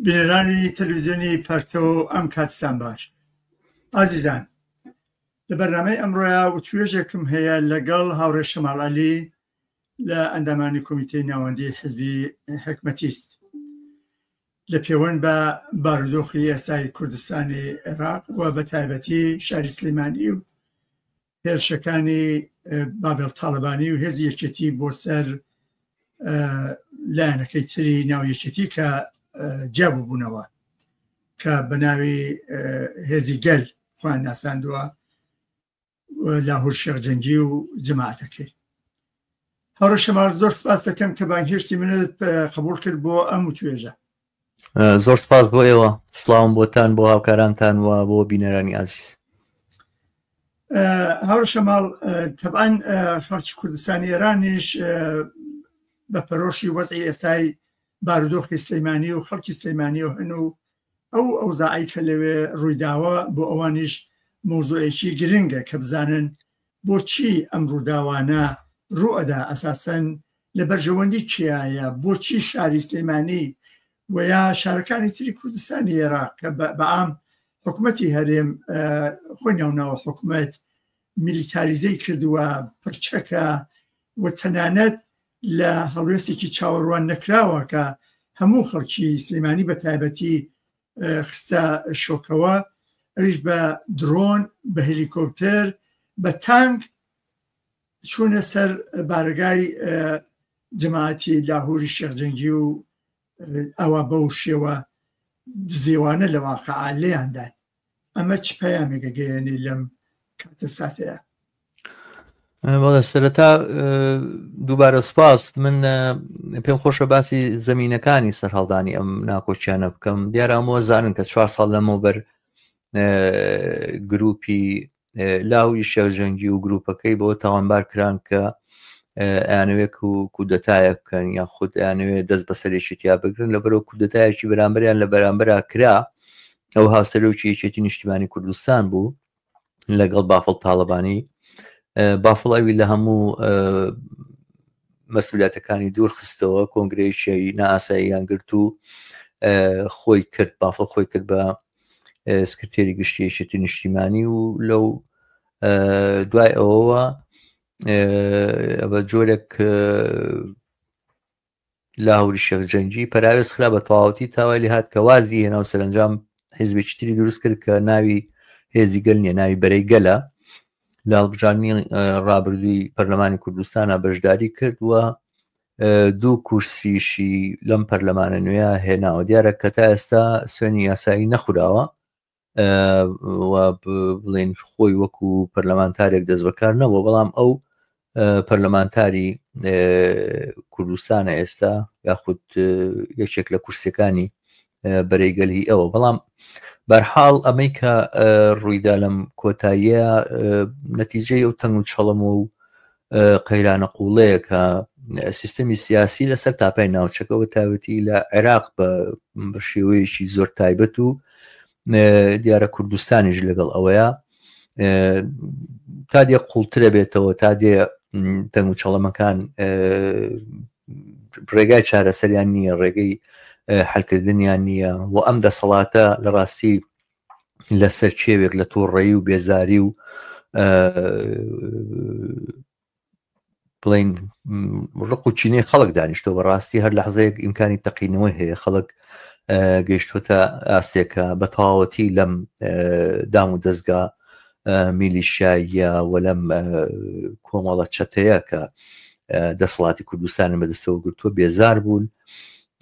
بینەرانی تەلویزیۆنی پەرتەو ئەم کاتتان باش ئازیزان لە بەرنامەی ئەمڕۆیا و توێژێکم هەیە لەگەڵ هاوڕێ شەماڵعلی لە ئەندامانی کۆمیتەی ناوەندی حزبی حکمەتیست لە پێوەند بە بارودۆخی ئێستای کوردستانی عێراق و بە تایبەتی شاری سلیمانی و هێرشەکانی باڤێڵ تاڵەبانی و هێزی یەکێتی بۆ سەر لایەنەکەی تری ناو یەکێتی کە جیاببوونەوە کە بە ناوی هێزی گەل خوان ناساندووە لە هۆشێخ جەنگی و جەماعەتەکەی هەڕە شەمار زۆر سپاس دەکەم کە بانگهێشتی منت قبول کرد بۆ ئەم و توێژە زۆر سپاس بۆ ئێوە سلااوم بۆتان بۆ هاوکارانتان وە بۆ بینەرانی ئازیز هاوڕ شەماڵ تەبان خەڵکی کوردستانی ئێرانیش بە پەرۆشی وەزی ئێستای بارودۆخی سلەیمانی و خەڵکی سلەیمانی و هەن و ئەو ئەوزاعی کە لەوێ ڕوویداوە بۆ ئەوانیش مۆزۆیەکی گرنگە کە بزانن بۆچی ئەم ڕووداوانە ڕوو ئەدا ئەساسەن لە بەرژەوەندی کێایە بۆچی شاری سلێمانی وە یا شارەکانی تری کوردستانی ئێراق کە بەعام حکومەتی هەرێم خۆی ناوناوە حکومەت میلیتاریزەی کردووە پرچەکە و تەنانەت لە هەڵوێستێکی چاوەڕوان نەکراوە کە هەموو خەڵکی سلێمانی بە تایبەتی خستە شۆکەوە ئەویش بە درۆن بە هەلیکۆپتەر بە تانک چوونە سەر بارگای جەماعەتی لاهوری شێخجەنگی و ئەوە بەو شێوە دزێوانە لە واقع لێیاندای ئەمە چ پەیامێکە گەیێنی لەم کاتە ساتەیە بەڵێ سەرەتا دووبارە سپاس من پێم خۆشە باسی زمینینەکانی سەرهەڵدانی ئەم ناکۆچیانە بکەم دیارامەوە زانن کە چوار ساڵ لەمەوبەر گروپی لاوی شێرجەنگی و گروپەکەی بۆ تاوانبار کران کە ئەیانوێک و کودەتایە بکەن یان خود ئەیانوێ دەست بەسەرێکی تیا بگرن لە بەرەو کودەتایەکی بەرامبەریان لە بەرامبەرا کرا ئەو هاوسەرۆکی یەکێتی نیشتیمانی کوردستان بوو لەگەڵ بافڵ تاالبانی بافڵ ئەوی لە هەموو مەسولاتەکانی دوور خستەوە کۆنگرەیشی ناساییان گرت و خۆی کرد بافڵ خۆی کرد بە سکرتێری گشتیشێتی نیشتیمانی و لەو دوای ئەوەوە بە جۆرێک لاهوری شێخ جەنگی پەراوێز خرا بە تەواوەتی تاوای لێ هات کە وازی هێنا و سەرەنجام حیزبێکی تری دروست کرد کە ناوی هێزی گەل نیە ناوی بەرەی گەلە لە هەڵبژاردنی ڕابردووی پەرلەمانی کوردستانە بەشداری کرد و دوو کورسیشی لەم پەرلەمانە نوێە هێناوە دیارە کە تا ئێستا سوێنی یاسایی نەخوراوە بڵین خۆی وەکو پەرلەمانتارێک دەست بەکار نەبوو بەڵام ئەو پەرلەمانتاری کوردستانە ئێستا یاخود یەکێک لە کورسەکانی بەرەیگەلی ئەوە بەڵام بەرحاڵ ئەمەی کە ڕوویدا لەم کۆتاییە نەتیجەی ئەو تەنگ و چڵم و قەیرانە قوڵەیەکە سیستەمی سیاسی لەسەر تاپای ناوچەکەەوە تاوەتی لە عێراق بە شێوەیەکی زۆر تایبەت و دیارە کوردستانیش لەگەڵ ئەوەیە تا دێ قوڵترە بێتەوە تا دێ دەنگ و چەڵەمەکان ڕێگای چارەسەریان نییە ڕێگەی حلکردنیان نییە و ئەم دەسەڵاتە لە ڕاستی لەسەر کێوێک لە تۆڕەیی و بێزاری و بڵین ڕق و چینەی خەڵک دانیشتۆ بەڕاستی هەر لە حزەیەک ئیمکانی تەقینەوەی هەیە خەڵک گەیشتوتە ئاستێکە بە تەواوەتی لەم دام و دەستگا میلیشاییە و لەم کۆمەڵە چەتەیە کە دەسەڵاتی کوردستانی بەدەستەوە گرتووە بێزار بوون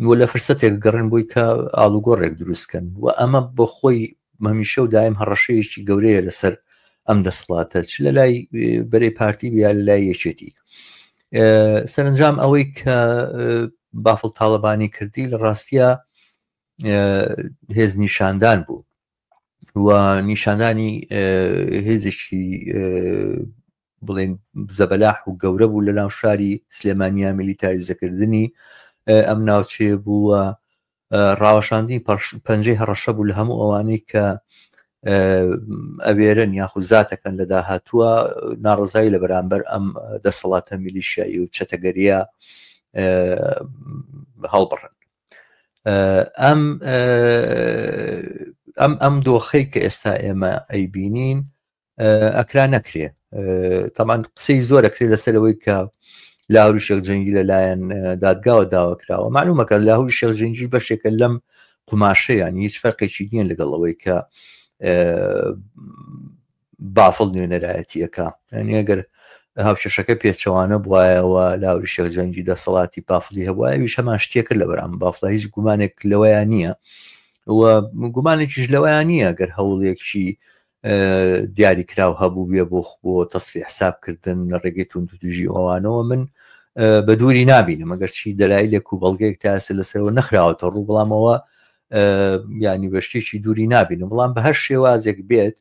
و لە فرسەتێک گەڕێن بۆی کە ئاڵوگۆڕێک دروست کەن و ئەمە بۆ خۆی مەمیشە و دایم هەڕەشەیەکی گەورەیە لەسەر ئەم دەسڵاتە چ لە لای بەرەی پارتی بیا لە لای یەکێتی سەرنجام ئەوەی کە بافڵ تاالبانی کردی لە ڕاستە هێز نیشاندان بوو و نیشاندانی هێزێکی بڵێن زەبەلاح و گەورە بوو لە ناو شاری سلێمانیا میلیتاریزەکردنی ئەم ناوچێ بووە ڕاوەشاندی پەنجەی هەڕەشە بوو لە هەموو ئەوانەی کە ئەوێرن یاخود زاتەکەن لە داهاتووە ناڕزایی لە بەرامبەر ئەم دەسەڵاتە میلیشایی و چەتەگەریە هەڵبڕن ئەم ئەم ئەم دۆخەی کە ئێستا ئێمە ئەیبینین ئەکرا نەکرێ تەمان قسەی زۆر ئەکرێت لەسەرەوەی کە لاهوری شێخ جەنگی لەلایەن دادگاوە داوا کراوە معلومەکە لاهوری شێخ جەنگی بەشێکە لەم قوماشەیان هیچ فەرقێکی نییە لەگەڵ ئەوەی کە بافڵ نوێنەرایەتیەکە ینی ئەگەر هاوکێشەکە پێچەوانە بواایەوە لاوری شێخ جەنگی دەسەڵاتی پافلی هەبواویش هەمان شتێکرد لە بەرام بافڵ هیچ گومانێک لەوەیان نییە و گومانێکیش لەوەیان نییە گەر هەوڵێکی دیاری کراو هەبووبێ بۆ بۆ تەسفی حساب کردن لە ڕێگەی توندتوژی ئەوانەوە من بە دووری نبینم ئەگەر چی دەلایلێک و بەڵگەیەک تاسە لەسەرەوە نەخراوەتە ڕوو بڵامەوە ینی بە شتێکی دووری نبینم بڵام بە هەر شێوازێک بێت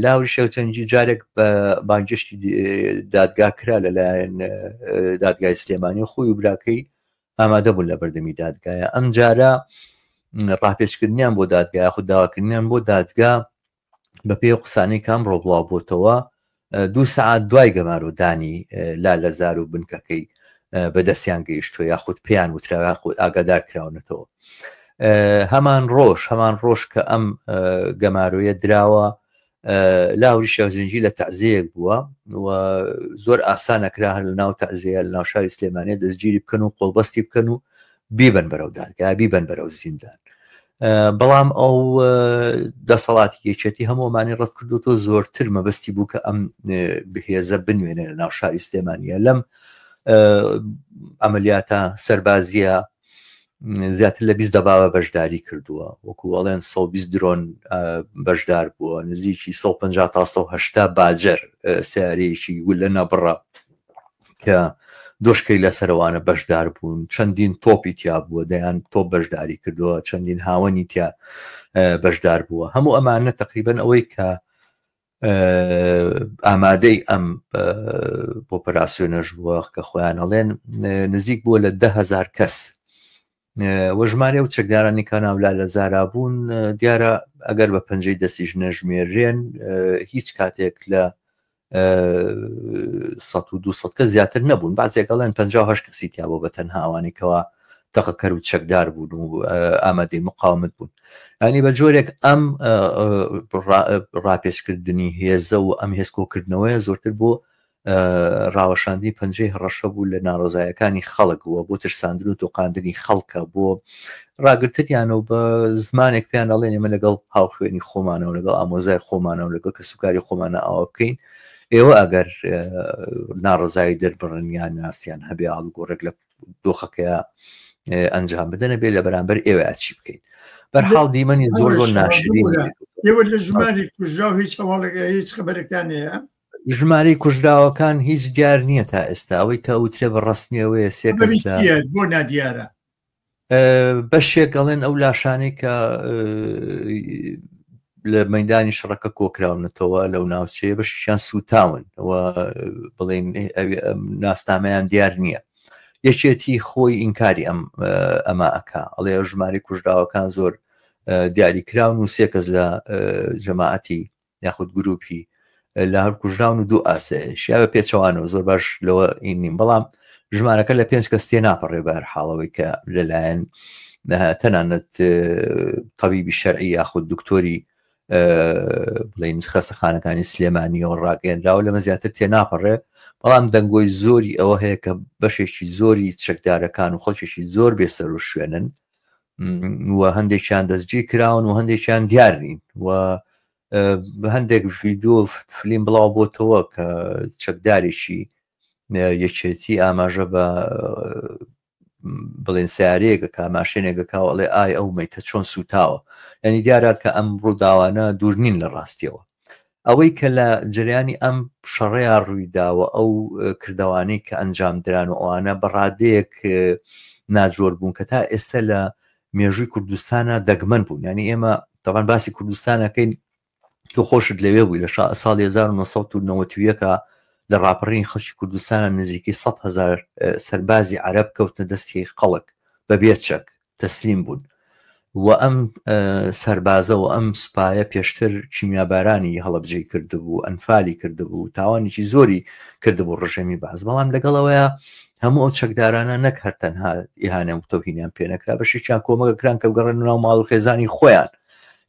لاوری شەوچەنجی جارێک بە بانگشتی دادگا کرا لەلایەن دادگای سلێمانی خۆی و براکەی ئامادە بوون لە بەردەمی دادگایە ئەم جارە ڕاپێچکردنیان بۆ دادگا یاخود داواکردنیان بۆ دادگا بە پێ و قسانەی کام ڕۆبڵاو بۆتەوە دوو سعات دوای گەمارۆدانی لا لە زار و بنکەکەی بەدەستیان گەیشتوە یاخود پێیان وتراوە خود ئاگادار کراونەتەوە هەمان ڕۆژ هەمان ڕۆژ کە ئەم گەمارۆیە دراوە لاهوری شێخ جونجی لە تەعزێیەک بووە و زۆر ئاسانە کرا هەر لە ناو تەعزەیە لە ناو شاری سلێمانە دەستگیری بکەن و قۆڵبەستی بکەن و بیبن بەرەو دادگا بیبن بەرەو زیندان بەڵام ئەو دەسەڵاتی یەکێتی هەموومانی ڕەت کردو تۆ زۆرتر مەبەستی بوو کە ئەم بهێزە بنوێنە لە ناو شاری سلێمانە لەم ئەمەلیاتە سەربازیە زیاتر لە بیست دەبابە بەشداری کردووە وەکو ئەڵێن سە بیست درۆن بەشدار بووە نزیکی 150 تا 1970 باجەر سیارەیەکی گولە نەبڕە کە دۆشکەی لە سەروانە بەشدار بوون چەندین تۆپی تیا بووە دەیان تۆپ بەشداری کردووە چەندین هاوەنی تیا بەشدار بووە هەموو ئەمانە تقریبن ئەوەی کە ئامادەی ئەم ئۆپەراسسیۆنەش بووە کە خۆیان ئەڵێن نزیک بووە لە دههزار کەس وە ژمارە و چەکدارانی کاناولا لە زارا بوون دیارە ئەگەر بە پەنجەی دەستیش نەژمێرێن هیچ کاتێک لە 100 کە زیاتر نەبوون بازێکەڵێن 5 کەسی تیا بۆ بە تەنها ئەوانێکەوە تەقەکەر و چەکدار بوون و ئامادەی مقاومت بوون ئەنی بە جۆرێک ئەم ڕاپێچکردنی هێزە و ئەم هێزکۆکردنەوەیە زۆرتر بۆ ڕاوەشاندی پەنجەی هەڕەشە بوو لە ناڕزایەکانی خەڵک بووە بۆ ترساندن و تۆقااندنی خەڵکە بۆ ڕاگرتنیان و بە زمانێک پێیان ئەڵێن ئمە لەگەڵ هاوخوێنی خۆمانە و لەگەڵ ئامۆزای خۆمانە و لەگەڵ کە سوکاری خۆمانە ئاوا بکەین ئێوە ئەگەر ناڕزایی دەربڕنیان ناسیان هەبێ ئاڵگۆڕێک لە دۆخەکەی ئەنجام بدەنە بێ لە بەرامبەر ئێوە چی بکەین بەرحاڵ دیمەنی زۆر زۆر ناشرین ئێوە لە ژماری کوژرا و هیچ هەواڵێکە هیچ خبرەکان هەیە ژماری کوژراوەکان هیچ دیار نییە تا ئێستا ئەوەی کە وترێ بە ڕستنیەوەیە سێ بۆ نادیارە بەشێک ئەڵێن ئەو لاشانەی کە لە مەدانی شەڕەکە کۆکراونەتەوە لەو ناوچەیە بەشیان سوتاون بڵێن ناسنامەیان دیار نییە یەکێتی خۆی ئینکاری ئەم ئەمە ئەک ئەڵێ ژماری کوژراوەکان زۆر دیاری کراون و سێ کەس لە جەماعەتی یاخود گروپی لە هەر کوژراون و دوو ئاسایش یا بە پێچەوانەوە زۆر باش لەوە ئینیم بەڵام ژمارەکە لە پێنج کەس تێ ناپەڕێ بەر حاڵەوەی کە لەلایەن تەنانەت طبیبی شەرعی یاخود دکتۆری بڵین خەستەخانەکانی سلێمانیەوە ڕاگەێنراوە لەمە زیاتر تێ ناپەڕێ بەڵام دەنگۆی زۆری ئەوە هەیە کە بەشێکی زۆری چەکدارەکان و خەڵکێکی زۆر بێسەر و شوێنن و هەندێکیان دەستگیر کراون و هەندێکیان دیار نین و هەندێک ڤیددیو فلیم بڵاو بۆتەوە کە چەکدارێکی یەکێتی ئاماژە بە بڵێن سارەیەگە کا ماشێنێگە کاوەڵێ ئای ئەو میتە چۆن سوتاوە ینی دیارە کە ئەم ڕووداوانە دوورنین لە ڕاستیەوە ئەوەی کە لە جەریانی ئەم شەڕەیا ڕوویداوە ئەو کردوانەی کە ئەنجام دران و ئەوانە بە ڕادەیەک ناجۆر بوون کە تا ئێستا لە مێژووی کوردستانە دەگمەن بوون ینی ئێمە تەوان باسی کوردستانەکەین تۆ خۆشت لەوێ بووی لە ساڵ 1990ەکە لە ڕاپەڕین خەڵکی کوردستانە نزیکەی 100هزار سەربازی عرب کەوتنە دەستی خەڵک بە بێچەک تەسلیم بوون و ئەم سەربازە و ئەم سوپایە پێشتر کیمیابارانی هەڵەبجەی کردبوو ئەنفالی کردبوو تاوانێکی زۆری کردبوو ڕژێمی باز بەڵام لەگەڵەوەیە هەموو ئەو چەکدارانە نەک هەر تەنها ئیهانە و تەوهینیان پێنەکرا بەشێکیان کۆمەگەکران کە گەڕێن ناو ماڵ و خێزانی خۆیان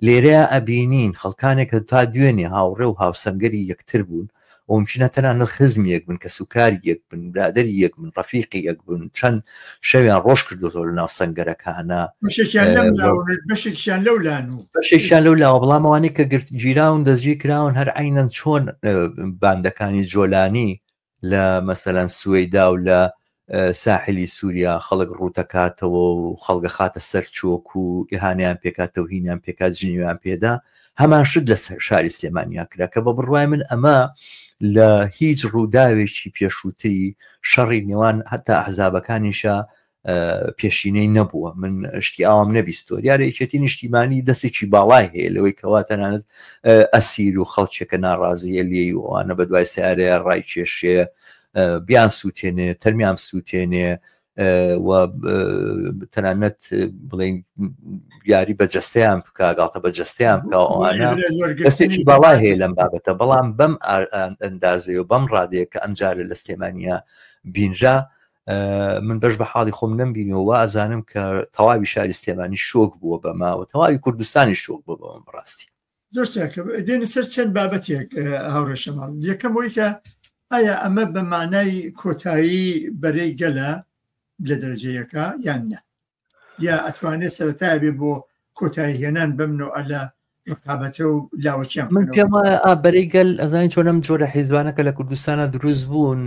لێرەیە ئەبینین خەڵکانێکە تا دوێنێ هاوڕێ و هاوسەنگەری یەکتر بوون مومکینە تەنها نە خزمی یەک بن، کەسوکاری یەک بن، برادەری یەک بن، ڕەفیقی یەک بن، چەند شەویان ڕۆژ کردۆتەوە لە ناو سەنگەرەکانا، بەشێکیان لەم لاوە بێت، بەشێکیشیان لەو لان و. بەشێکیان لەو لاوە، بەڵام ئەوانەی کە گرت گیراون دەستگیر کراون هەر عەینەن چۆن باندەکانی جۆلانی لە مەسەلەن سوەیدا و لە ساحلی سوریا خەڵک ڕووتەکاتەوە و خەڵگەخاتە سەر چۆک و ئیهانەیان پێکا تەوهینیان پێکا جنێویان پێدا هەمان شت لە شاری سلێمانیا کرا کە بە بڕوای من ئەمە لە هیچ ڕووداوێکی پێشووتری شەڕی نێوان هەتا ئەحزابەکانیشە پێشینەی نەبووە من شتی ئاوام نەبیستۆ دیارە یەکێتی نیشتیمانی دەستێکی باڵای هەیە لەوەی کەوا تەنانەت ئەسیر و خەڵکێکە ناڕازیە لێی وانە بە دوای سیارەیە ڕای کێشێ بیان سووتێنێ تەرمیان سووتێنێ و تەنانەت بڵین یاری بە جستیان بکە گاڵتە بە جستیان بکە ئەوانە دەستێکی باڵا هەیە لەم بابەتە بەڵام بەم ئەندازەیە و بەم ڕادەیە کە ئەمجارە لە سلێمانیا بینرا من بەش بە حاڵی خۆم نەمبینەوە ئازانم کە تەواوی شاری سلێمانی شۆک بووە بەماوە تەواوی کوردستانی شۆک بوو بەم ڕاستی زۆر چاکە دێنە سەر چەند بابەتێک هاوڕێ شەماڵ یەکەم بۆی کە ئایا ئەمە بە مانای کۆتایی بەرەی گەلە لە دەرجەیەەکە یان نە یا ئەتوانێت سەرتا بێ بۆ کۆتایی هێنان بەم نەوە لە ڕقابەتە و لاوەکیان من پێم وایە بەرەی گەل ئەزانین چۆنم جۆرە حیزبانەکە لە کوردستانە دروست بوون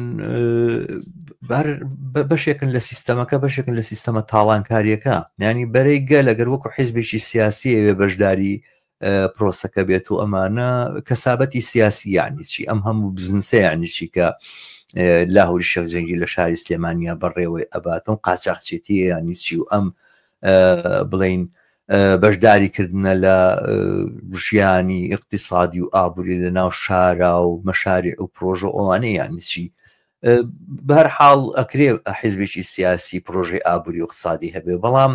بەشێکن لە سیستەمەکە بەشێکن لە سیستەمە تاڵانکاریەکە ینی بەرەی گەل لەگەر وەکو حیزبێکی سیاسی ئەوێ بەشداری پرۆسەکە بێت و ئەمانە کەسابەتی سیاسی یعنی چی ئەم هەموو بزنسە یعنی چی کە لاهوری شەخ جەنگی لە شاری سلێمانیا بەڕێوەی ئەباتم قاچاقچێتی یانی چی و ئەم بڵین بەشداری کردنە لە ژیانی اقتصادی و ئابووری لە ناو شارا و مەشاری و پرۆژە ئەوانەیە یانی چی بەهەر حاڵ ئەکرێ حیزبێکی سیاسی پرۆژەی ئابووری و اقتصادی هەبێ بەڵام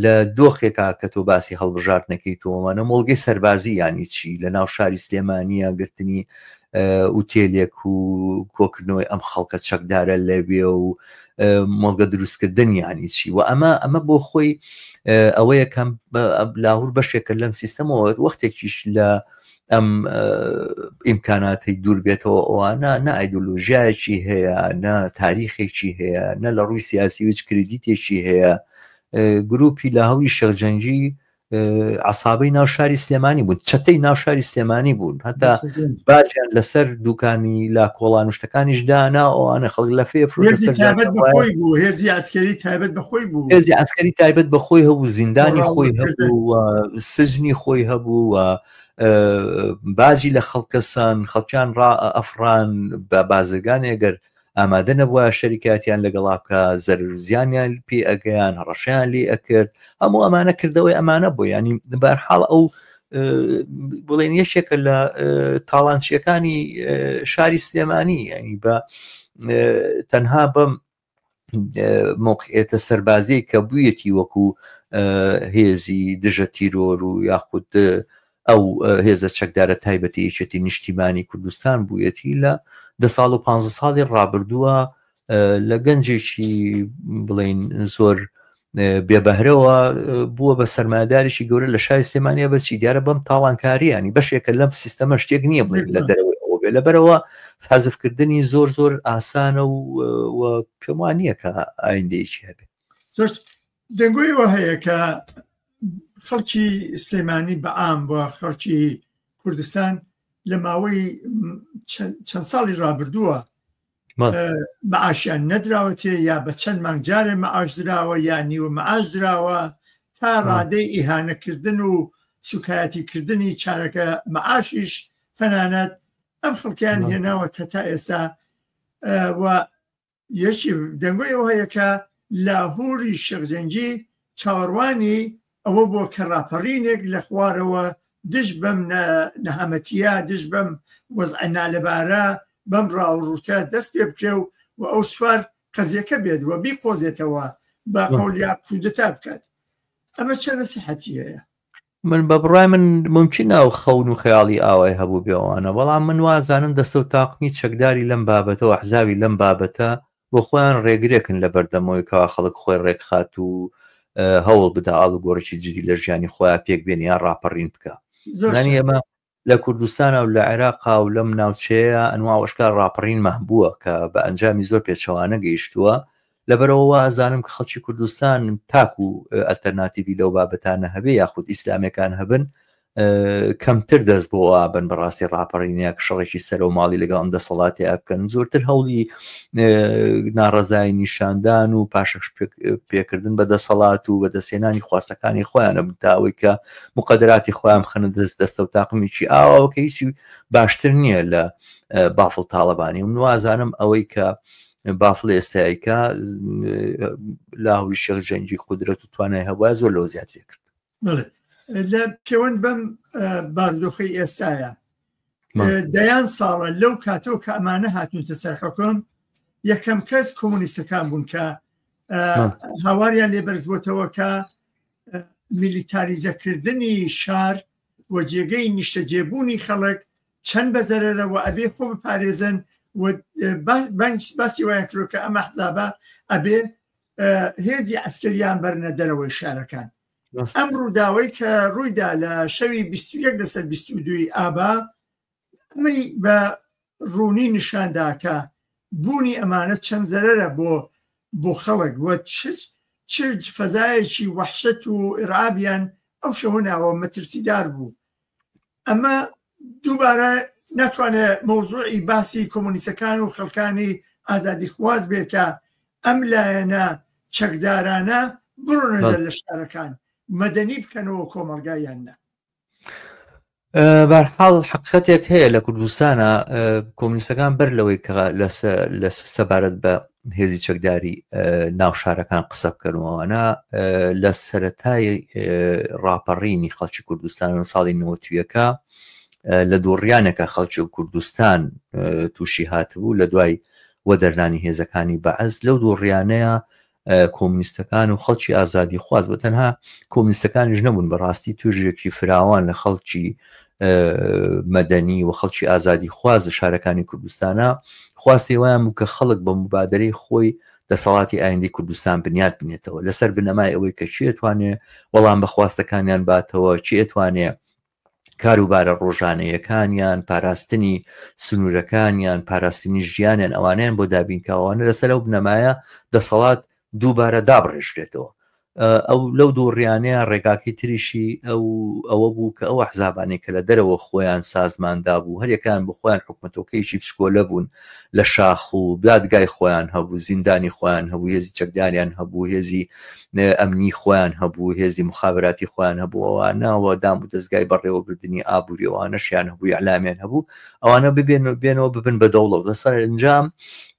لە دۆخێکا کە تۆ باسی هەڵبژاردنەکەی تۆمانە مۆڵگەی سەربازی یانی چی لە ناو شاری سلێمانە گرتنی ئوتێلێک و کۆکردنەوەی ئەم خەڵکە چەکدارە لەوێ و مۆڵگە دروستکردن یانی چی و ئەمە ئەمە بۆ خۆی ئەوەیە کەم لاهور بەشێکە لەم سیستەمەوە وەختێکیش لە ئەم ئیمکاناتی دوور بێتەوە ئەوانە نە ئایدۆلۆژیایەکی هەیە نە تاریخێکی هەیە نە لە ڕووی سیاسی وچ کردیتێکی هەیە گروپی لە هەوی شەرجەنگی عسابەی ناو شاری سلێمانی بوون چەتەی ناو شاری سلێمانی بوون هەتا باجیان لەسەر دوکانی لا کۆڵان شتەکانیش دانا ئەوانە خەڵک لە فێ هێزی ئاسکەری تایبەت بەخۆی بوو هێزی ئاسکەری تایبەت بەخۆی هەبوو زیندانی خۆی هەبوو سجنی خۆی هەبوو و باجی لە خەڵکەسان خەڵکیان ڕا ئەفران بە بازرگانی ئەگەر ئامادە نەبووە شەریکاتیان لەگەڵا بکە زەرزیانیان پێ ئەگەیان هەڕەشیان لێ ئەکرد هەموو ئەمانە کردەوەی ئەمانە بۆ ینی بەرحاڵ ئەو بڵێن یەکێکە لە تاڵانچیەکانی شاری سلێمانی ینی بە تەنها بەم مۆقعێتە سەربازی کە بوویەتی وەکو هێزی دژە تیرۆر و یاخود ئەو هێزە چەکدارە تایبەتی یەکێتی نیشتیمانی کوردستان بوویەتی لە دە ساڵ و پ ساڵی ڕابردووە لە گەنجێکی بڵین زۆر بێ بەهرەوە بووە بە سەرمایدارێکی گەورە لە شای سلێمانیا بەچی دیارە بەم تاڵانکاریانی بەشێکە لەم سیستەمە شتێک نییە بڵێن لە دەرەوەی ئەوە بێ لەبەرەوە حەزفکردنی زۆر زۆر ئاسانە و پێم وان نییە کە ئایندەیەکی هەبێت زۆر دەنگۆیەوە هەیە کە خەڵکی سلێمانی بەعام بۆ خەڵکی کوردستان لە ماوەی چەند ساڵی رابردووە معاشیان نەدراوەتێ یا بە چەند مانگ جارێ مەعاش دراوە یا نیوە مەعاش دراوە تا ڕادەی ئیهانەکردن و سوکایەتیکردنی چارەکە مەعاشیش تەنانەت ئەم خڵکیان هێناوە تا تا ئێستا و یەکی دەنگۆی ئەوەیەکە لاهوری شەخزەنجی چاوەڕوانی ئەوە بووە کە ڕاپەڕینێک لە خوارەوە دژ بەم نەهامەتییە، دژ بەم وەزعە نالەبارە، بەم ڕاو و ڕووتە دەست پێ بکرێ و و ئەو سوار قەزییەکە بێت و بیقۆزێتەوە بە قەولیا کودتا بکات. ئەمە چەند نەسیحەتی هەیە؟ من بە بڕای من ممکن ئەو خەون و خەیاڵی ئاوای هەبوو بێوانە بەڵام من وازانم دەستە و تاقمی چەکداری لەم بابەتەوە حزاوی لەم بابەتە بۆ خۆیان ڕێگرێکن لە بەردەمەوەی کەوا خەڵک خۆی ڕێکخات و هەوڵ بدا ئاڵوگۆڕێکی جدی لە ژیانی خۆیان پێک بێنێ یان ڕاپەڕین بکا زۆر نانی شایە. ئێمە لە کوردستانا و لە عێراقا و لەم ناوچەیە ئەنوا وەشکار ڕاپەڕینمان بووە کە بە ئەنجامی زۆر پێچەوانە گەیشتووە لەبەرەوە وا ئەزانم کە خەڵکی کوردستان تاکو ئەلتەرناتیڤی لەو بابەتانە هەبێ یاخود ئیسلامەکان هەبن کەمتر دەست بۆ ئابن بەڕاستی ڕاپەڕینەک شەڕێکی سەر و ماڵی لەگەڵ ئەم دەسەڵاتی ئەبکەن زۆرتر هەوڵی ناڕزای نیشاندان و پاشەش پێکردن بە دەسەڵات و بە دەستێنانی خواستەکانی خۆیانە بتاوەی کە مقدراتی خۆیان خەنە دەست دەستە و تاقمیی ئاواکە هیچی باشتر نییە لە بافڵ تاڵەبانی و نوازانم ئەوەی کە بافڵ ئێستایکە لاهوی شێخ جەنگی قدرەت و توانای هەبە زۆر لەو زیاترێ کرد لە پێوەند بەم باردۆخی ئێستاە دەیان ساڵە لەو کاتەوە کە ئەمانە هاتنتە سەر حکم یەکەم کەس کۆمونیستەکان بوون کە هاواریان لێ بەرزبووتەوە کە میلیتاریزەکردنی شار و جێگەی نیشتەجێبوونی خەڵک چەند بەزەرەرەوە ئەبێ خۆ بپارێزن بەنج باسی وایان کرۆکە ئەمە حزابە ئەبێ هێزی ئەسکەریان بەرنە دەرەوەی شارەکان ئەم ڕووداوەی کە ڕوویدا لە شەوی 21 لەسەر 22 ئابا ئەمەی بە ڕوونی نیشانداکە بوونی ئەمانە چەند زەرەرە بۆ بۆ خەڵک وە چرج فەزایەکی وەحشت و ئرابیان ئەو شەوە ناوە مەترسیدار بوو ئەمە دووبارە ناتوانێ مەوزوعی باسی کۆمۆنیسەکان و خەڵکانی ئازادی خواز بێت کە ئەم لایەنە چەکدارانە بڕۆنە لە شارەکان مەدەنی بکەنەوە کۆمەلگایان نە بارحاڵ حقیقەتێک هەیە لە کوردستانە کۆمنیستەکان بەر لەوەی کە لە سەبارەت بە هێزی چەکداری ناو شارەکان قسە بکەن و ئەوانە لە سەتای ڕاپەڕینی خەڵکی کوردستان و ساڵی نوەتویەکە لە دووڕیانەکە خەڵکی و کوردستان تووشی هاتبوو لە دوای وە دەرنانی هێزەکانی بەعز لەو دووڕیانەیە کۆمنیستەکان و خەڵکی ئازادی خواز بە تەنها کۆمنیستەکانیش نەبوون بەڕاستی توژێکی فراوان لە خەڵکی مەدەنی و خەڵکی ئازادی خواز لە شارەکانی کوردستانە خواستی وایان بوو کە خەڵک بە مبادرەی خۆی دەسەڵاتی ئایندی کوردستان بنیات بنێتەوە لەسەر بنەمای ئەوەی کە چێتوانێ وەڵام بە خواستەکانیان باتەوە چێتوانێ کاروبارە ڕۆژانەیەکانیان پاراستنی سنوورەکانیان پاراستنی ژیانیان ئەوانیان بۆ دابینکاوانە لەسەر ئەو بنەمایە دەسەڵات دووبارە دابڕێژرێتەوە ئەو لەو دوو ڕیانەیە ڕێگاکەی تریشی ئەو ئەوە بوو کە ئەو ئەحزابانەی کە لە دەرەوە خۆیان سازمان دابوو هەریەکان بۆ خۆیان حکومەتۆکەیەکی بچکۆلە بوون لە شاخ و دادگای خۆیان هەبوو زیندانی خۆیان هەبوو هێزی چەکداریان هەبوو هێزی ئەمنی خۆیان هەبوو هێزی مخابراتی خۆیان هەبوو ئەوانەوە دام و دەستگای بەڕێوەبردننی ئابووریەوانەشیان هەبووی علامیان هەبوو ئەوانە ببێن و بێنەوە ببن بە دەوڵەت لەسەر ئەنجام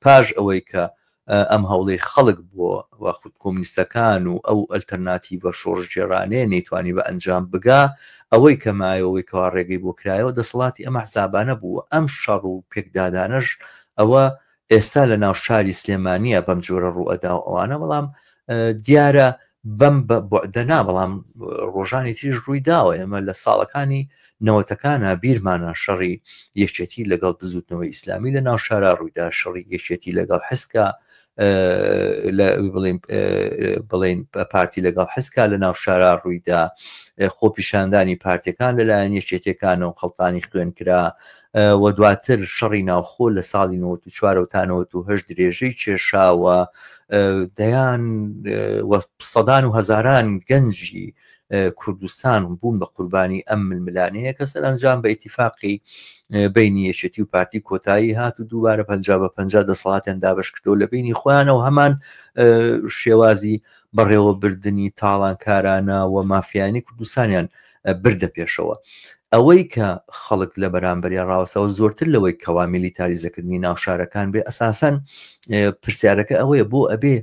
پاش ئەوەی کە ئەم هەوڵەی خەڵک بۆ وە خود کۆمنیستەکان و ئەو ئەلتەرناتیڤە شۆڕشگێڕانەیە نەیتوانی بە ئەنجام بگا، ئەوەی کە مایەوەی کەوا ڕێگەی بۆ کرایەوە دەسەڵاتی ئەم ئەحزابانە بوو و ئەم شەڕ و پێکدادانەش ئەوە ئێستا لە ناو شاری سلێمانیە بەم جۆرە ڕووئەدا و ئەوانە بەڵام دیارە بەم بوعدە نا بەڵام ڕۆژانی تریش ڕووی داوە ئێمە لە ساڵەکانی نەوەتەکانە بیرمانە شەڕی یەکێتی لەگەڵ بزوتنەوەی ئیسلامی لە ناو شارە ڕوویدا شەڕی یەکێتی لەگەڵ حسکە بڵین پارتی لەگەڵ حسکا لە ناو شارا ڕوویدا خۆپیشاندانی پارتەکان لەلایەن یەکێتەکانەوە خەڵتانی خوێن کرا و دواتر شەڕی ناوخۆ لە ساڵی 94 و تا 98 درێژەی کێشا و دەیان سەدان و هەزاران گەنجی کوردستان بوون بە قوربانی ئەم ململانەیە کە سەرنجام بە ئیتیفاقی بینی یەکێتی و پارتی کۆتایی هات و دووبارە پ بە پ دەسەڵاتیان دابش کردو لە بینی خۆیانەوە هەمان شێوازی بەڕێوەبردننی تاڵانکارانە و مافیانی کوردستانیان بردە پێشەوە ئەوەی کە خەڵک لە بەرامبەریا ڕاوەسەوە زۆرتر لەوەی کەوا میلیتاریزەکردنی ناوشارەکان بێ ئەساسەن پرسیارەکە ئەوەیە بۆ ئەبێ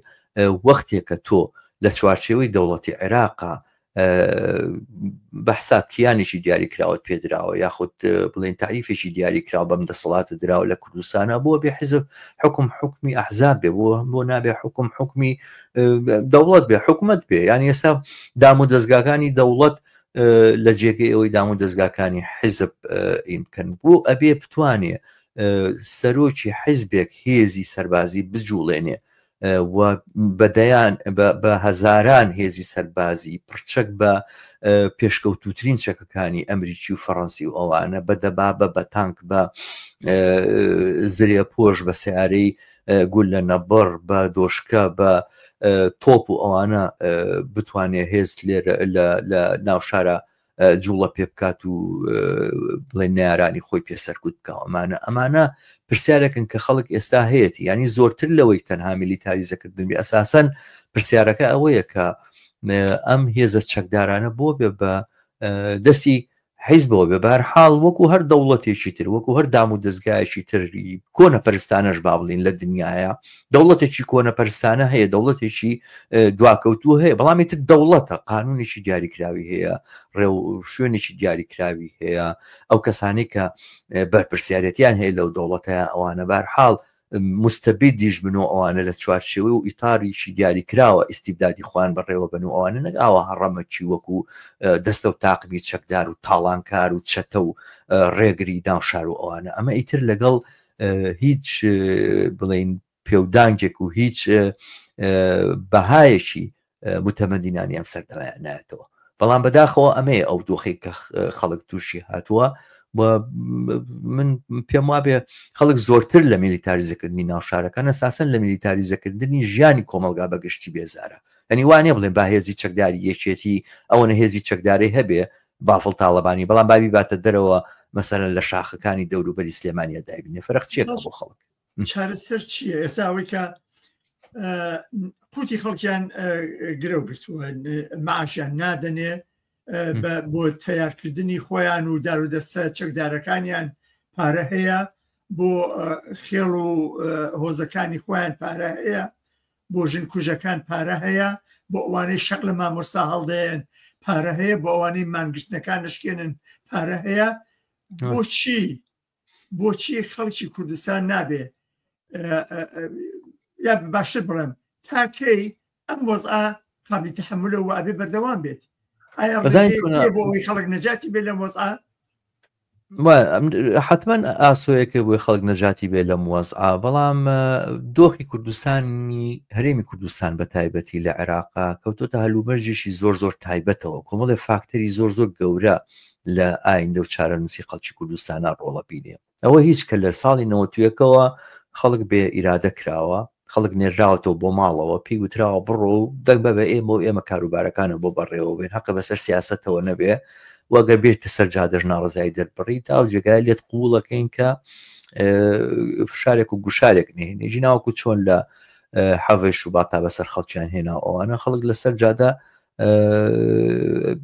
وەختێکە تۆ لە چوارچێوەی دەوڵەتی عێراقا بە حساب کیانێکی دیاری کراوت پێدراوە یاخود بڵێن تعریفێکی دیاری کراوە بەم دەسەڵاتە دراوە لە کوردستانە بۆ بێ حزب حکم حکمی ئەحزاب بێ بۆ بۆ نابێ حکم حکمی دەوڵەت بێ حکومت بێ یان ئێستا دام و دەستگاکانی دەوڵەت لە جێگەی ئەوەی دام و دەستگاکانی حیزب ئین بکەن بۆ ئەبێ بتوانێ سەرۆکی حیزبێک هێزی سەربازی بجوڵێنێ بەدەیان بە هەزاران هێزی سەربازی پرچەک بە پێشکەوتوترین چەکەکانی ئەمریکی و فەڕەنسی و ئەوانە بە دەبابە بە تانک بە زرێ پۆش بە سیارەی گوللە نەبڕ بە دۆشکە بە تۆپ و ئەوانە بتوانێ هێز لێرە لە ناوشارە جوڵە پێ بکات و بڵێ نارانی خۆی پێ سەرکوت بکەوە ئەمانە ئەمانە پرسیارەکن کە خەڵک ئێستا هەیەی ینی زۆرتر لەوەی تەنها میلیتاریزەکردن بێ ئەساسەن پرسیارەکە ئەوەیە کە ئەم هێزە چەکدارانە بۆ بێ بە دەستی حیزبەوە بێ بەهەرحاڵ وەکو هەر دەوڵەتێکی تر وەکو هەر دام و دەزگایەکی تر ی کۆنە پەرستانەش با بڵێین لە دنیایە دەوڵەتێکی کۆنە پەرستانە هەیە دەوڵەتێکی دواکەوتوو هەیە بەڵامی تر دەوڵەتە قانونێکی دیاریکراوی هەیە ڕێو شوێنێکی دیاریکراوی هەیە ئەو کەسانی کە بەرپرسیارەتیان هەیە لەو دەوڵەتە ئەوانە بارحاڵ موستەبیدیش بن و ئەوانە لە چوارچێوەی و ئیتاریکی دیاریکراوە ئیستیبدادی خۆیان بەڕێوەبەن و ئەوانە نەک ئاوا هەڕەمەکی وەکو دەستە و تاقمی چەکدار و تاڵانکار و چەتە و ڕێگری ناو شار و ئەوانە ئەمە ئیتر لەگەڵ هیچ بڵین پێودانگێک و هیچ بەهایەکی متەمەنی نانی ئەم سەر نایەتەوە بەڵام بەداخەوە ئەمەیە ئەو دۆخی کە خەڵک تووشی هاتووە من پێم وابێ خەڵک زۆرتر لە میلیتاریزەکردنی ناوشارەکە نەساسن لە میلیتاریزەکردنی ژیانی کۆمەلگا بەگشتی بێزارە ئەنی وانێ بڵێن با هێزی چەکداری یەکێتی ئەوەنە هێزی چەکداری هەبێ بافڵ تاالبانی بەڵام بابی باتە دەرەوە مەسەرە لە شاخەکانی دەوروبەری سلێمانیا دابینێ فەرق چێت بۆ خەڵک چارەسەر چییە ئێستا ئەوەی کە قوتی خەڵکیان گرە گرتووە معاشیان نادەنێ بۆ تیارکردنی خۆیان و دار و دەستە چەکدارەکانیان پارە هەیە بۆ خێڵ و هۆزەکانی خۆیان پارە هەیە بۆ ژن کوژەکان پارە هەیە بۆ ئەوانەی شەق لە مامۆستا هەڵدەێن پارە هەیە بۆ ئەوانەی مانگرتنەکان نشکێنن پارە هەیە بۆچی بۆچی خەڵکی کوردستان نابێ یا باشتر بڵێم تاکەی ئەم وەزا قابلی تحملە و ئەبێ بەردەوام بێت بۆی خەڵک نەجاتی بێ لەم وەزا حتمما ئاسۆیەکە بۆی خەڵک نەجاتی بێ لەم وەزعا بەڵام دۆخی کوردستانی هەرێمی کوردستان بە تایبەتی لە عێراقا کەوتۆتە هەلومەرجێکی زۆر زۆر تایبەتەوە کۆمەڵێ فاکتەری زۆر زۆر گەورە لە ئایندە و چارەنووسی خەڵکی کوردستانا ڕۆڵە بینێ. ئەوە هیچ کە لە ساڵی نەوەت و یەکەوە خەڵک بێ ئیرادە کراوە، خەڵک نێرراوەتەوە بۆ ماڵەوە، پێی وتراوە بڕۆ و دەنگ بە بە ئێمە و ئێمە کاروبارەکانە بۆ بەڕێوە بێن، هەقە بەسەر سیاسەتەوە نەبێ و گەر بێیتە سەر جادەش ناڕەزایی دەربڕی، تا ئەو جێگایە لێت قووڵەکەین کە فشارێک و گوشارێک نهێنی، جیناوەکو چۆن لە حەڤەی شوباتا بەسەر خەڵکیان هێنا و ئەوانە خەڵک لەسەر جادە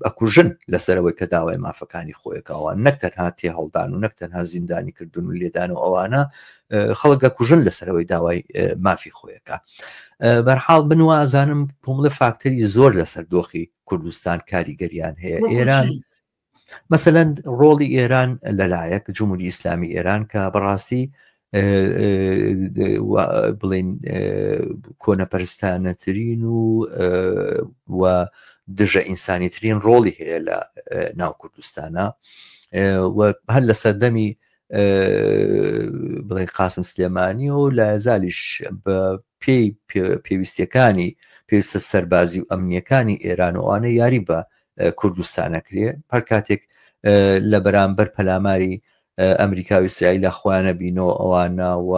ئەکوژن لەسەرەوەی کە داوای مافەکانی خۆیەکەوە نەک تەنها تێ هەڵدان و نەک تەنها زیندانی کردن و لێدان و ئەوانە خەڵگە کوژن لەسەرەوەی داوای مافی خۆیەکە بەرحاڵ بنوازانم کۆمەڵە فاکتەری زۆر لەسەر دۆخی کوردستان کاریگەریان هەیە ئێران مەسەلەن ڕۆڵی ئێران لەلایەک جمهوری ئیسلامی ئێران کە بەڕاستی بڵین کۆنەپەرستانەترین و و دژە ئینسانی ترین ڕۆڵی هەیە لە ناو کوردستانە هەر لە سەردەمی بڵێ قاسم سلێمانی و لە زالیش بە پێی پێویستەکانی پێویستە سەربازی و ئەمنیەکانی ئێرانەوانە یاری بە کوردستانە کرێ هەر کاتێک لە بەرامبەر پەلاماری ئەمریکا و ئیسرائیلا خۆیانە بینەوە ئەوانە و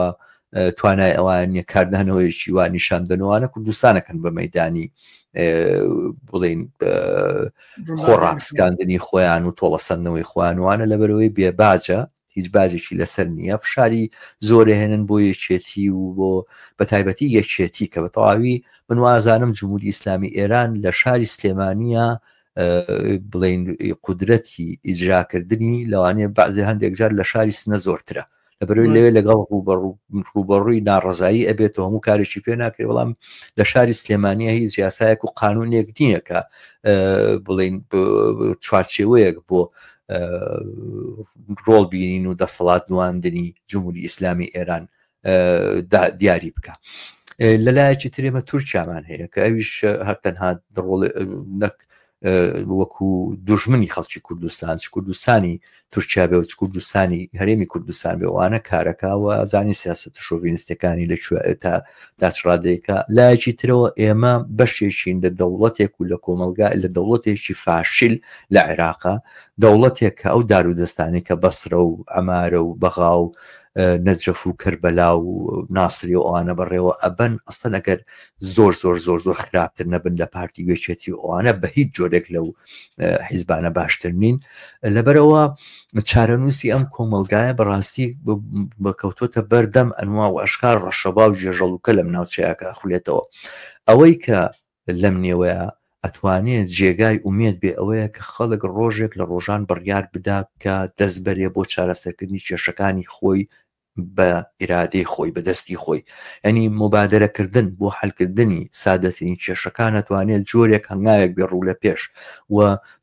توانای ئەوان نیە کاردانەوەیەکی وا نیشان دەنوانە کوردستانەکەن بە مەدانی بڵین خۆڕاپسکاندنی خۆیان و تۆڵەسەندنەوەی خوانوانە لە بەرەوەی بێباجە هیچ باجێکی لەسەر نییە فشاری زۆرەهێنن بۆ یەکێتی و بۆ بە تایبەتی یەکێتی کە بە تەواوی من وازانم جمهوری ئیسلامی ئێران لە شاری سلێمانە بڵین قدرەتی ئیجراکردنی لەوانەیە بەعزێ هەندێک جار لە شاری سنە زۆرترە لە بەروی لەوێ لەگەڵ ڕوبەڕووی ناڕزایی ئەبێت و هەموو کارێکی پێ ناکرێت بەڵام لە شاری سلێمانە هیچ یاسایەک و قانونێک نییە کە بڵین چوارچێوەیەک بۆ ڕۆڵ بینین و دەسەڵات نواندنی جمهوری ئیسلامی ئێران دیاری بکە لەلایەکی ترێمە تورکیامان هەیە کە ئەویش هەر تەنها ڕۆڵ نەک وەکو دژمنی خەڵکی کوردستان چ کوردستانی تورکیا بێ و چ کوردستانی هەرێمی کوردستان بێوانە کارەکەوە زانی سیاست شۆڤینستەکانی لە تا داچڕادێکە لایەکی ترەوە ئێمە بەشێکین لە دەوڵەتێک و لە کۆمەلگا لە دەوڵەتێکی فاشیل لە عێراقا دەوڵەتێک کە ئەو دار و دەستانی کە بەسرە و ئەمارە و بەغا و نەجەف و کەربەلا و ناسری و ئەوانە بەڕێوە ئەبەن ئەستن ئەگەر زۆر زۆر زۆر زۆر خراپتر نەبن لە پارتی گوێچێتی ئەوانە بە هیچ جۆرێک لەو حیزبانە باشتر نین لەبەرەوە چارەنووسی ئەم کۆمەڵگایە بەڕاستی بەکەوتۆتە بەردەم ئەنوا و ئەشکار ڕەشەبا و جێژەڵوکە لەم ناوچەیەکە خولێتەوە ئەوەی کە لەم نێوەیە ئەتوانێت جێگای ئومێت بێ ئەوەیە کە خەڵک ڕۆژێک لە ڕۆژان بڕیار بدا کە دەستبەرێ بۆ چارەسەرکردنی کێشەکانی خۆی بە ئیرادەی خۆی بە دەستی خۆی یعنی مبادرەکردن بۆ حلکردنی سادەترین کێشەکان ئەتوانێت جۆرێک هەنگاوێک بێ ڕوو لە پێش و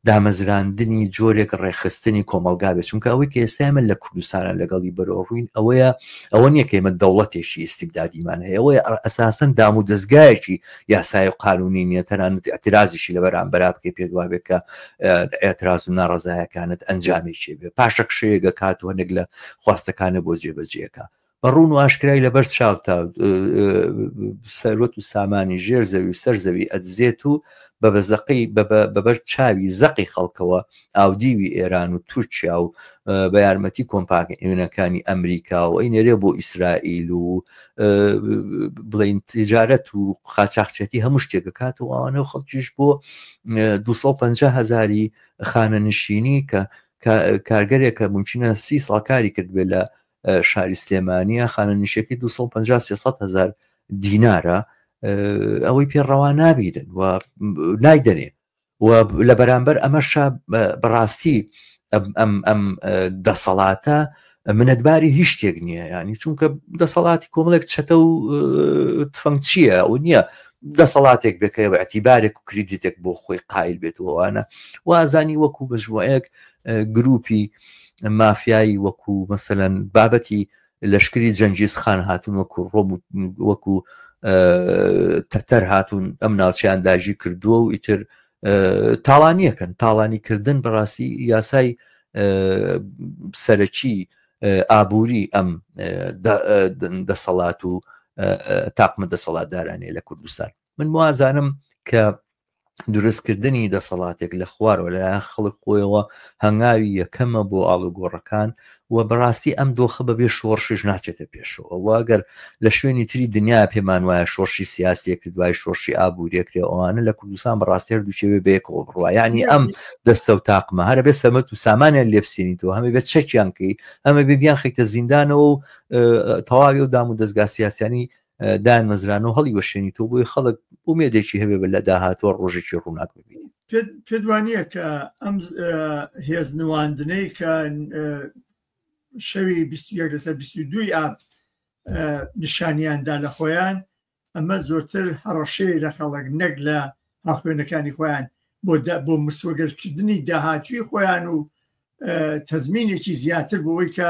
دامەزراندنی جۆرێک ڕێخستنی کۆمەلگاوێت چونکە ئەوەی کە ئێستا من لە کوردستانە لەگەڵی بەرۆڕووین ئەوەیە ئەوە نیەکەیمە دەوڵەتێکی ئیسیبدادیمان هەیەەوەی ئەساسەن دام و دەستگایەکی یاسایە و قانونی نیە تەنانەت ئیعترازیشی لە بەرامبەرا بکەی پێت وابێت کە ئێعتراز و ناڕەزایەکانت ئەنجامێکی بێ پاشەکشەیەگە کات و هەندێک لە خواستەکانە بۆ جێبەجێەکە بە ڕوون و ئاشکرای لەبەر چاوتا سەروەت و سامانی ژێر زەوی و سەر زەوی ئەدزێت و بە بەزەقی بەبەر چاوی زەقی خەڵکەوە ئاودیوی ئێران و تورکیا و بە یارمەتی کۆمپانیونەکانی ئەمریکا و ئەی نێرێ بۆ ئیسرائیل و بڵین تجارەت و قاچاخچێتی هەموو شتێک کات و ئەوانە و خەڵکیش بۆ 250 هزاری خانە نشینی کە کارگەرێک کە ممچینە سی ساڵ کاری کرد بێ لە شاری سلێمانە خانە نیشەکەی 250 هزار دینارە ئەوەی پێڕەوا نابیرن و نایدەنێ و لە بەرامبەر ئەمەشا بەڕاستی ئەم دەسەڵاتە منەتباری هیچ شتێک نییە ینی چونکە دەسەڵاتی کۆمەڵێک چەتە و تفەنگ چییە ئەو نییە دەسەڵاتێک بکەی بە ئەتیبارێک و کریدیتێک بۆ خۆی قایل بێت وانە وازانی وەکو بەژوەیەک گروپی مافیایی وەکو مەسەەن بابەتی لەشکری جەنگیز خان هاتون وەکو ڕۆم وەکو تەتەر هاتون ئەم ناوچیان داژی کردووە و ئیتر تاڵانیەکەن تاڵانی کردن بەڕاستی یاسای سەرەکی ئابووری ئەم دەسەڵات و تاقمە دەسەڵاتدارانێ لە کوردستان من وازانم کە دروستکردنی دەسەڵاتێک لە خوارەوە لەلایەن خەڵک خۆیەوە هەنگاوی یەکەمە بۆ ئاڵوگۆڕەکان و بەڕاستی ئەم دۆخە بەبێ شۆڕشش ناچێتە پێشەوە واگەر لە شوێنی تری دنیا پێمان وایە شۆڕشی سیاسێک دوای شۆڕشی ئابووریەکرێ ئەوانە لە کوردستان بەڕاستی هەردووچێوێ بەیەکەوە بڕوا ینی ئەم دەستە و تاقمە هەرە بێ سەمەت و سامانیان لێپسێنیتەوە هەمە بێت چەکیان کەی ئەمە بێبیان خیتە زیندانەوە و تەواوی و دام و دەستگا سیاسیانی دامەزران و هەڵی وەشێنی تۆ بۆی خەڵک ئومێدێکی هەبێ بە لە داهاتوە ڕۆژێکی ڕووناک ببین پێت وانە کە ئەم هێز نواندنەی کە شەوی لەسەر دوی ئاب نیشانیاندا لە خۆیان ئەمە زۆرتر هەڕەشەی لە خەڵک نەک لە هاخوێنەکانی خۆیان بۆ بۆ مسوەگەرکردنی داهاتوی خۆیان و تەزمینێکی زیاتر بۆەوەی کە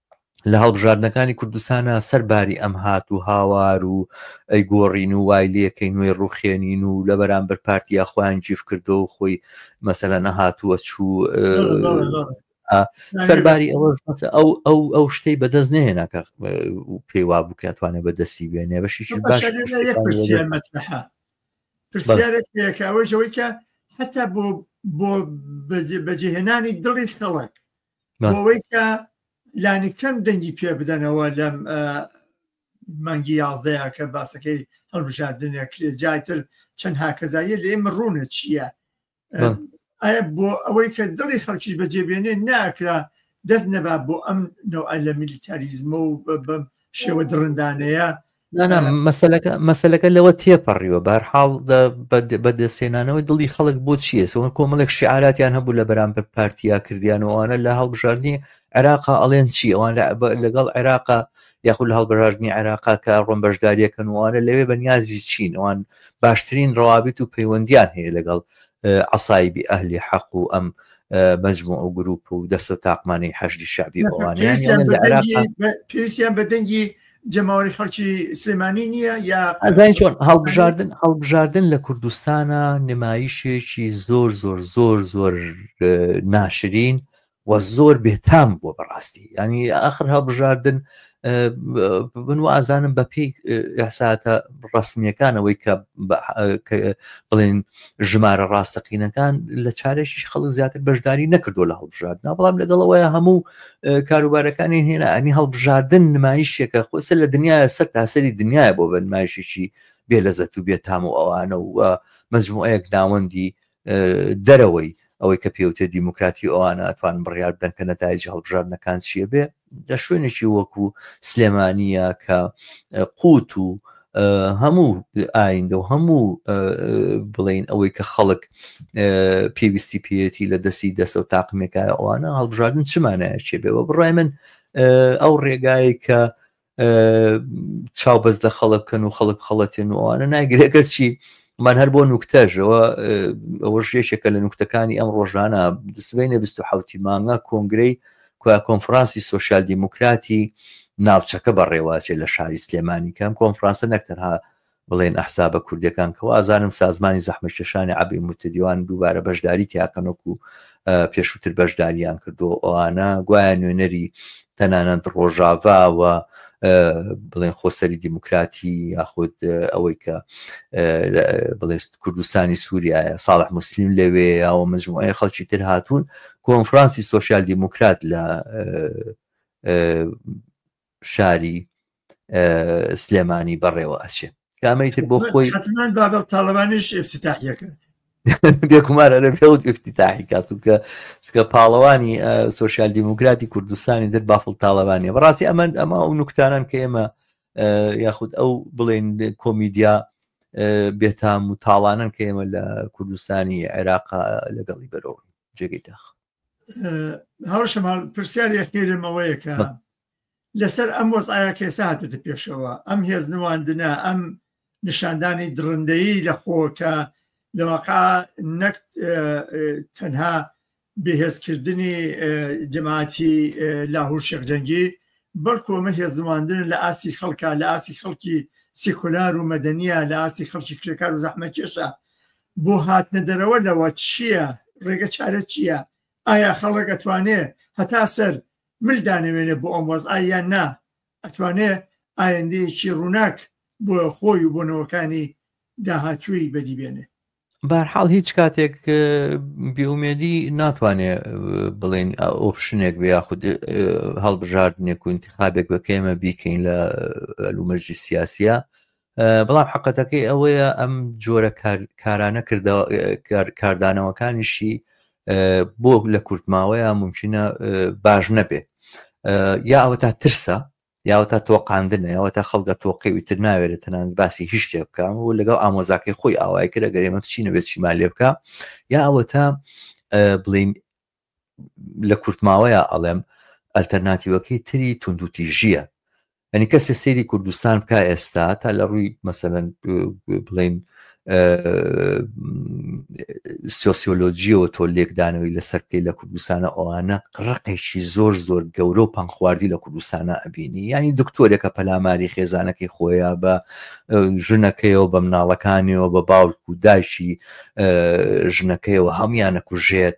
لە هەڵبژاردنەکانی کوردستانە سەر باری ئەم هات و هاوار و ئەی گۆڕین و وای لەکەی نوێ ڕوخێنین و لە بەرامبەر پارتیا خۆیان جیف کردو و خۆی مەسەلە نەهاتووە چوو سەرباری ئەوە ئەو ئەو ئەو شتەی بەدەست نێنا کە پێی وا بوو کاتوانێ بەدەستی بێنێ بەشی باش پرسیارێکەوەی کە حتا بۆ بۆ بەجێهێنانی دڵی خەڵک بۆەوەی کە لانی کەم دەنگی پێ بدەنەوە لەم مانگی یازدەیە کە باسەکەی هەڵبژاردنە کرێ جاتر چەند هاکەزاییە لە ئێمە ڕوونە چییە ئایا بۆ ئەوەی کە دڵی خەڵکیش بەجێبێنێ ناکرا دەست نەبا بۆ ئەم نەوە لە میلیتاریزمە و بەم شێوە دڕندانەیە نانا مەسلەکە مەسلەکە لەوە تێپەڕیوە بارحاڵ بەدەستێنانەوەی دڵی خەڵک بۆ چیە سۆن کۆمەڵێک شعاراتیان هەبوو لە بەرامبەر پارتیا کردیانەوەوانە لە هەڵبژاردننی عێراقا ئەڵێن چی ئەوان لەگەڵ عێراقا یاخود لە هەڵبژاردننی عێراقا کە ڕۆم بەشداریەکەن وانە لەوێ بەنیازی چین ئەوان باشترین ڕوابیت و پەیوەندیان هەیە لەگەڵ عسایبی ئەهلی حەق و ئەم مجموع و گروپ و دەستە تاقمانی حەشدی شعبی ئەوانیان پێویستیان بە دەنگی جەماوەری خەڵکی سلێمانی نییە یا ئەزای چۆن هەڵبژاردن هەڵبژاردن لە کوردستانە نمایشێکی زۆر زۆر زۆر زۆر ناشرین و زۆر بێتام بووە بەڕاستی ینی ئاخر هەڵبژاردن من و ئازانم بە پێی ئەساتە ڕسمیەکانەوەی کە بڵێن ژمارە ڕاستەقینەکان لە چارێکیش خەڵک زیاتر بەشداری نەکردو لە هەڵبژاردنا بەڵام لەگەڵەوەیە هەموو کاروبارەکانی هێنا ئەنی هەڵبژاردن نمایشێکە خۆسە لە دنیا سەر تاسەری دنیاە بۆ بە نمایشێکی بێ لەزەت و بێتام و ئەوانە و مەجموعەیەک ناوەندی دەرەوەی ئەوەی کە پێوتێ دیموکراتی ئەوانە ئەتوان بڕیار بدەن کە نەتایجی هەڵبژاردنەکان چیە بێ لە شوێنێکی وەکو سلێمانیە کە قوت و هەموو ئایندە و هەموو بڵین ئەوەی کە خەڵک پێویستی پێەتی لە دەستی دەستە و تاقمێکایە ئەوانە هەڵبژاردن چمانایە چێ بێ بە بڕای من ئەو ڕێگایە کە چاو بەس لە خەڵک بکەن و خەڵک خەڵەتێن و ئەوانە ناگرێکە چی من هەر بۆ نوکتەژەوە ئەوە ژێشێکە لە نوکتەکانی ئەم ڕۆژانە سبینە 1970 مانگا کۆنگرەی کویا کۆنفرانسی سوسیال دیموکراتی ناوچەکە بەڕێواچێت لە شاری سلێمانی کەم کۆنفرانسە نەکتەرها بڵێن ئەحزابە کوردیەکان کە وازانن سازمانی زەحمەتکێشانی عەبی موتەدیوان دووبارە بەشداری تیاکەن وەکو پێشووتر بەشداریان کردووە ئەوانە گوایە نوێنەری تەنانەت ڕۆژاڤا و بڵێن خۆسەری دیموکراتی یاخود ئەوەی کە بڵێ کوردستانی سووریایە ساڵح مسلیم لەوێ یاوە مجموعە خەڵکی تر هاتوون کۆنفرانسی سوسیال دیموکرات لە شاری سلێمانی بەڕێوە ئەچێت کامەی تر بۆ خۆی بابل تاالبانیش افتتاحەکەات بێکومارە لە پێوت افتتاحی کات و کە چکە پاڵەوانی سوسیال دیموکراتی کوردستانی در بافڵ تاالبانیە بەڕاستی ئەمەند ئەمە ئەو نوکتانان کە ئێمە یاخود ئەو بڵێن کۆمیدیا بێتام و تاڵانن کە ئێمە لە کوردستانی عێراق لەگەڵی بەرەوە جێگەی داخ هاوشەمال پرسیار یەخێرمەوەیەکە لەسەر ئەم وەز ئایا کێسا هاتوتە پێشەوە ئەم هێز نواندنە ئەم نیشاندانی دڕندەیی لە خۆکە لەواقع نەک تەنها بەهێزکردنی جەماعتی لاهور شێخجەنگی بەڵکو ئەمە هێزدواندن لە ئاستی خەڵکە لە ئاستی خەڵکی سیکولار و مەدەنیە لە ئاستی خەڵکی کرێکار و زەحمە کێشە بۆ هاتنە دەرەوە لەوە چییە؟ ڕێگە چارە چییە؟ ئایا خەڵک ئەتوانێ هەتا سەر مل دانەوێنێ بۆ ئەم وەزعە یان نا؟ ئەتوانێ ئایندەیەکی ڕووناک بۆ خۆی و بۆ نەوەکانی داهاتووی بەدی بێنێ؟ بارحاڵ هیچ کاتێک بێومێدی ناتوانێ بڵێن ئۆپشنێک بێ یاخود هەڵبژاردنێک و انتخابێک بە کێمە بیکەین لە لومەرجی سیاسە بەڵام حقەتەکەی ئەوەیە ئەم جۆرە کارانە کاردانەوەکانیشی بۆ لە کورتماوەیە ممکنە باش نەبێ یا ئەوە تا ترسە یاوە تا تۆقااندنە یاوە تا خەڵگە تۆقیوی تر ناوێرە تەنان باسی هیچ شتێ بکەم و لەگەڵ ئامۆزاکەی خۆی ئاوای کرە گەرێمە چینە بێت چیمان لێ بکە یا ئەوە تا بڵین لە کورتماوەیە ئەڵێم ئەلتەرناتیوەکەی تری توندوتیژیە ئەنی کەسێ سری کوردستان کا ئێستا تا لە ڕووی مەسەەن بڵین سۆسیۆلۆجیەوە تۆ لێکدانەوەی لەسەر بکەی لە کوردستانە ئەوانە ڕقێکی زۆر زۆر گەورە و پەنخواردی لە کوردستانە ئەبینی ینی دکتۆرێکە پەلاماری خێزانەکەی خۆیان بە ژنەکەیەوە بە مناڵەکانیەوە بە باوک و داشی ژنەکەیەوە هەمویانە کوژێت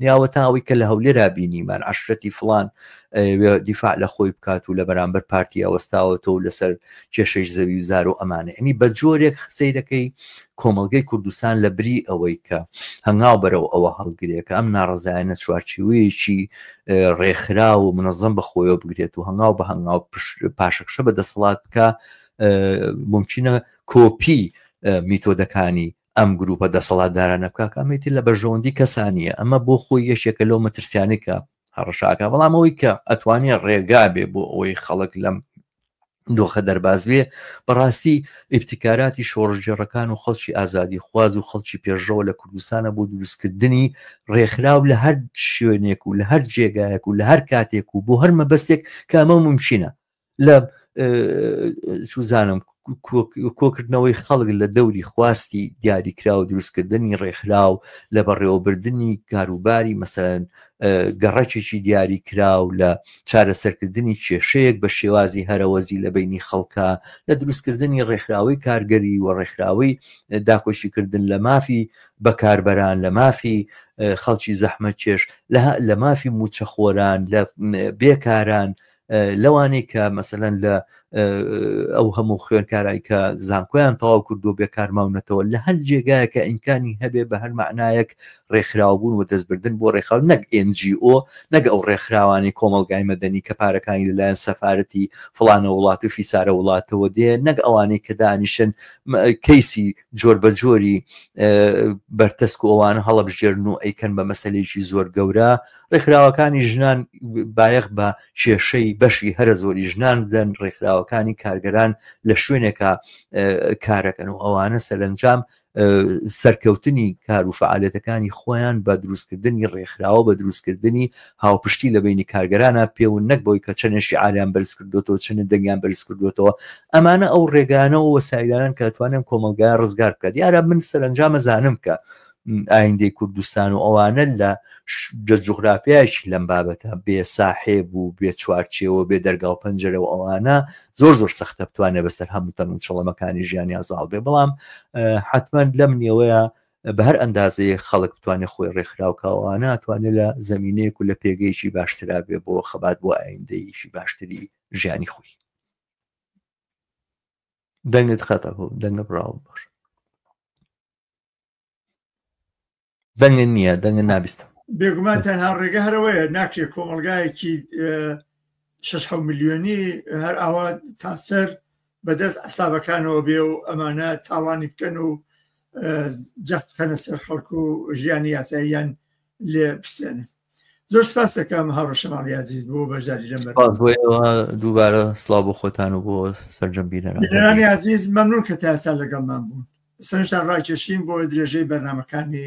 نیاوەتە ئەوەی کە لە هەولێرا بینیمان عەشرەتی فڵان ئەیەوێ دیفاع لە خۆی بکات و لە بەرامبەر پارتیا وەستاوەتەوە و لەسەر کێشەی زەوی و زار و ئەمانە ینی بە جۆرێک سەیرەکەی کۆمەڵگەی کوردستان لە بری ئەوەی کە هەنگاو بەرەو ئەوە هەڵگرێت کە ئەم ناڕزایەنە چوارچیوەیەکی ڕێکخرا و منەزم بە خۆیەوە بگرێت و هەنگاو بە هەنگاو پاشەکشە بە دەسەڵات بکە ممکنە کۆپی میتۆدەکانی ئەم گروپە دەسەڵاتدارانە کاک ئەمەی تر لە بەرژەوەندی کەسا نییە، ئەمە بۆ خۆی یەکێکە لەو مەترسیانەی کە هەڕەشە ئەکا، بەڵام ئەوەی کە ئەتوانێ ڕێگا بێ بۆ ئەوەی خەڵک لەم دۆخە دەرباز بێ، بەڕاستی ئیبتیکاراتی شۆڕشگێڕەکان و خەڵکی ئازادیخواز و خەڵکی پێشڕەوە لە کوردستانە بۆ دروستکردنی ڕێکخراو لە هەر شوێنێک و لە هەر جێگایەک و لە هەر کاتێک و بۆ هەر مەبەستێک کە ئەمە مومکینە. لە چوزانم کۆکردنەوەی خەڵک لە دەوری خواستی دیاریکرا و دروستکردنی ڕێکخرا و لە بەڕێوەبردننی کاروباری مەسەرەن گەڕەکێکی دیاری کرا و لە چارەسەرکردنی کێشەیەک بە شێوازی هەرەوەزی لە بینی خەڵکە لە دروستکردنی ڕێکخراوەی کارگەری و ڕێکخراوەی داکۆشیکردن لە مافی بەکاربەران لە مافی خەڵکی زەحمە کێش لە مافی موچەخۆران لە بێکاران لەوانەی کە مەسەلەن لە ئەو هەموو خوێنکارای کە زانکۆیان تەواو کردو بێ کارماونەتەوە لە هەر جێگایەکە ئینکانی هەبێ بە هەر معنایەک ڕێکخراوە بوون و دەستبردن بۆ ڕێکخراو نەک NGO نەک ئەو ڕێکخراوانی کۆمەلگای مەدەنی کە پارەکانی لەلایەن سەفاەتی فلانە وڵات و فیسارە وڵاتەوە دێ نەک ئەوانەی کە دانیشن کەیسی جۆر بە جۆری بەرتەسک و ئەوانە هەڵەبژێرن و ئەیکەن بە مەسلەیەکی زۆر گەورە ڕێکخراوەکانی ژنان بایەخ بە کێشەی بەشی هەرە زۆری ژنان بدەن ڕێکخراوەکانی کارگەران لە شوێنێکە کارەکەن و ئەوانە سەرنجام سەرکەوتنی کار و فعالەتەکانی خۆیان بە دروستکردنی ڕێکخراوە بە دروستکردنی هاوپشتی لە بەینی کارگەرانا پێون نەک بەوەی کە چەنێ شیعاریان بەرز کردۆتەوە چەنێ دەنگیان بەرز کردۆتەوە ئەمانە ئەو ڕێگانە و وەسایلانەن کە توانێن کۆمەڵگایە ڕزگار بکە دیارە من سەرنجامە زانم کە ئایندەی کوردستان و ئەوانە لە جغرافیایشی لەم بابەتە بێ ساحێب و بێ چوارچێەوە بێ دەرگا و پەنجەرە و ئەوانە زۆر زۆر سەختە بتوانێت بەسەر هەموو تەنگ و چڵەمەکانی ژیانیان زاڵ بێ بەڵام حتمما لەم نێوەیە بە هەر ئەندازەیەک خەڵک بتوانێت خۆی ڕێکخراو کاوانە توانێت لە زەمینەیەک و لە پێگەیەکی باشترا بێ بۆ خەبات بۆ ئایندەیەکی باشتری ژیانی خۆی دەنگت خەتە بۆ دەنگە بڕاوم باش دەنگە نییە دەنگە نابیستم بێگومان تەنها ڕێگە هەرەوەیە ناکرێت کۆمەلگایەکی شش حەو ملیۆنی هەر ئاوا تاسەر بەدەست عسابەکانەوە بێ و ئەمانە تاوانی بکەن و جەخت بکەنە سەر خەڵک و ژیانی یاساییان لێ بستێنن زۆر سپاس دەکەم هاڕشەمان یازیز بۆ بەژاری لەم دووبارە سلااو بۆ خۆتان و بۆ سەررجەم بینەرانی عزیز مەمنون کە تاسا لەگەڵمان بوون سەرشتان ڕاکێشین بۆ درێژەی بەرنمەکانی